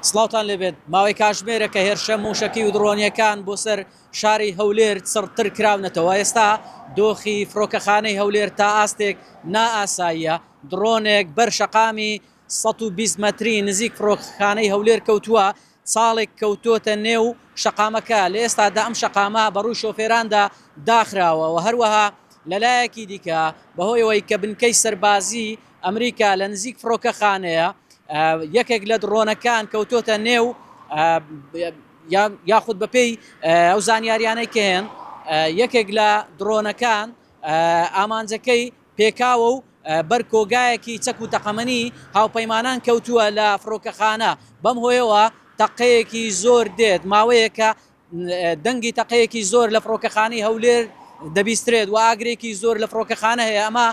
سڵاوتان لێ بێت، ماوەی کاژمێرە کە هێرشە مووشەکی و دڕۆنییەکان بۆ سەر شاری هەولێر چڕتر کراونەتەوە، ئێستا دۆخی فڕۆکەخانەی هەولێر تا ئاستێک نا ئاساییە، دڕۆنێک بەر شەقامی سەد و بیست مەتری نزیک فڕۆکەخانەی هەولێر کەوتووە، چاڵێک کەوتۆتە نێو شەقامەکە، لە ئێستادا ئەم شەقامە بەڕووی شۆفێراندا داخراوە و هەروەها لەلایەکی دیکە بەهۆیەوەی کە بنکەی سەربازی. ئەمریکا لە نزیک فڕۆکەخانەیە یەکێک لە دڕۆنەکان کەوتۆتە نێو یاخود بەپێی ئەو زانیاریانەی کە هێن یەکێک لە دڕۆنەکان ئامانجەکەی پێکاوە و بەر کۆگایەکی چەک و تەقەمەنی هاوپەیمانان کەوتووە لە فڕۆکەخانە بەم هۆیەوە تەقەیەکی زۆر دێت ماوەیەکە دەنگی تەقەیەکی زۆر لە فڕۆکەخانەی هەولێر دەبیسترێت و ئاگرێکی زۆر لە فڕۆکەخانە هەیە ئەمە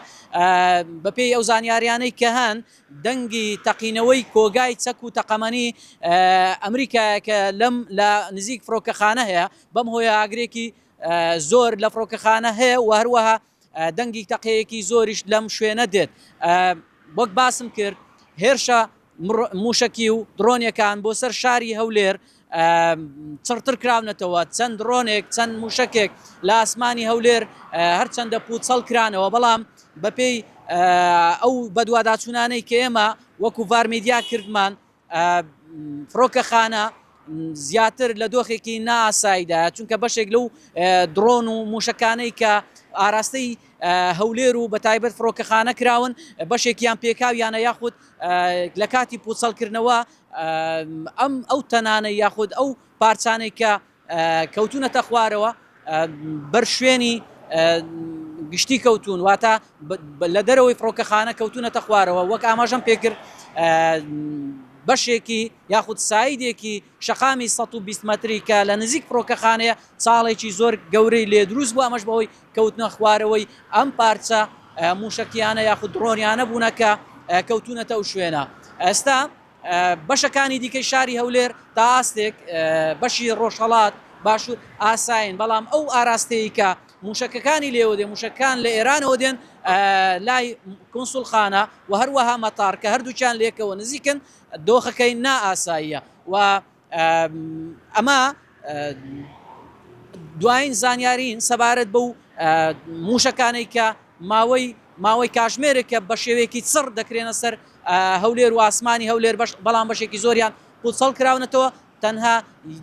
بەپێی ئەو زانیاریانەی کە هەن دەنگی تەقینەوەی کۆگای چەک و تەقەمەنی ئەمریکایەکە لەم لە نزیک فڕۆکەخانە هەیە بەم هۆیە ئاگرێکی زۆر لە فڕۆکەخانە هەیە و هەروەها دەنگی تەقەیەکی زۆریش لەم شوێنە دێت وەک باسم کرد هێرشە موشکی و درۆنیەکان بۆ سەر شاری هەولێر چڕتر کراونەتەوە چەند ڕۆنێک چەند موشکێک لە ئاسمانی هەولێر هەرچەندە پوچەڵ کرانەوە بەڵام بەپێی ئەو بەدواداچوونانەی کە ئێمە وەکو ڤارمیدیا کردمان فڕۆکەخانە زیاتر لە دۆخێکی نائاساییدایە، چونکە بەشێک لەو دڕۆن و مووشەکانەی کە ئاراستەی هەولێر و بە تایبەت فڕۆکەخانە کراون بەشێکیان پێکاویانە یاخود لە کاتی پوچەڵکردنەوە ئەم ئەو تەنانەی یاخود ئەو پارچانەی کە کەوتونەتە خوارەوە بەر شوێنی گشتی کەوتون واتە لە دەرەوەی فڕۆکەخانە کەوتونەتە خوارەوە وەک ئاماژەم پێکرد بەشێکی یاخود سایدێکی شەقامی 120 متری کە لە نزیک فڕۆکەخانەیە چاڵێکی زۆر گەورەی لێ دروست بوو ئەمەش بەوەی کەوتنە خوارەوەی ئەم پارچە موشکیانە یاخود دڕۆنیانە بوونەکە کەوتونەتە ئەو شوێنە ئەستا بەشەکانی دیکەی شاری هەولێر تا ئاستێک بەشی ڕۆژهەڵات باشوور ئاسایین، بەڵام ئەو ئاراستەی کە موشەکەکانی لێوە دێ موشەکان لە ئێرانەوە دێن لای کونسولخانە و هەروەها مەتار کە هەردووچان لێکەوە نزیکن دۆخەکەی نائاساییە و ئەمە دوایین زانیاریین سەبارەت بەو مووشەکانەی کە ماوەی ماوەی کاژمێرێکە بە شێوەیەکی چڕ دەکرێنە سەر هەولێر و ئاسمانی هەولێر بەش بەڵام بەشێکی زۆریان پوچەڵ کراونەتەوە تەنها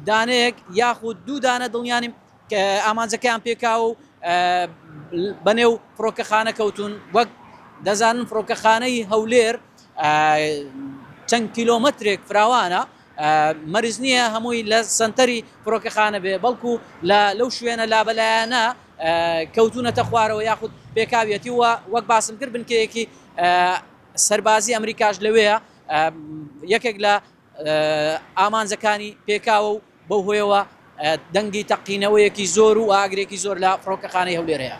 دانەیەک یاخود دوو دانە دڵنیانیم کە ئامانجەکەیان پێکاو و بەنێو فڕۆکەخانە کەوتون وەک دەزانن فڕۆکەخانەی هەولێر چەند کیلۆمەترێک فراوانە مەرج نییە هەمووی لە سەنتەری فڕۆکەخانە بێ، بەڵکو لە لەو شوێنە لابەلایانە کەوتوونەتە خوارەوە یاخود پێکاویەتی و وەک باسم کرد بنکەیەکی سەربازی ئەمریکاش لەوێیە یەکێک لە ئامانجەکانی پێکاوە و بەو هۆیەوە دەنگی تەقینەوەیەکی زۆر و ئاگرێکی زۆر لە فڕۆکەخانەی هەولێر هەیە.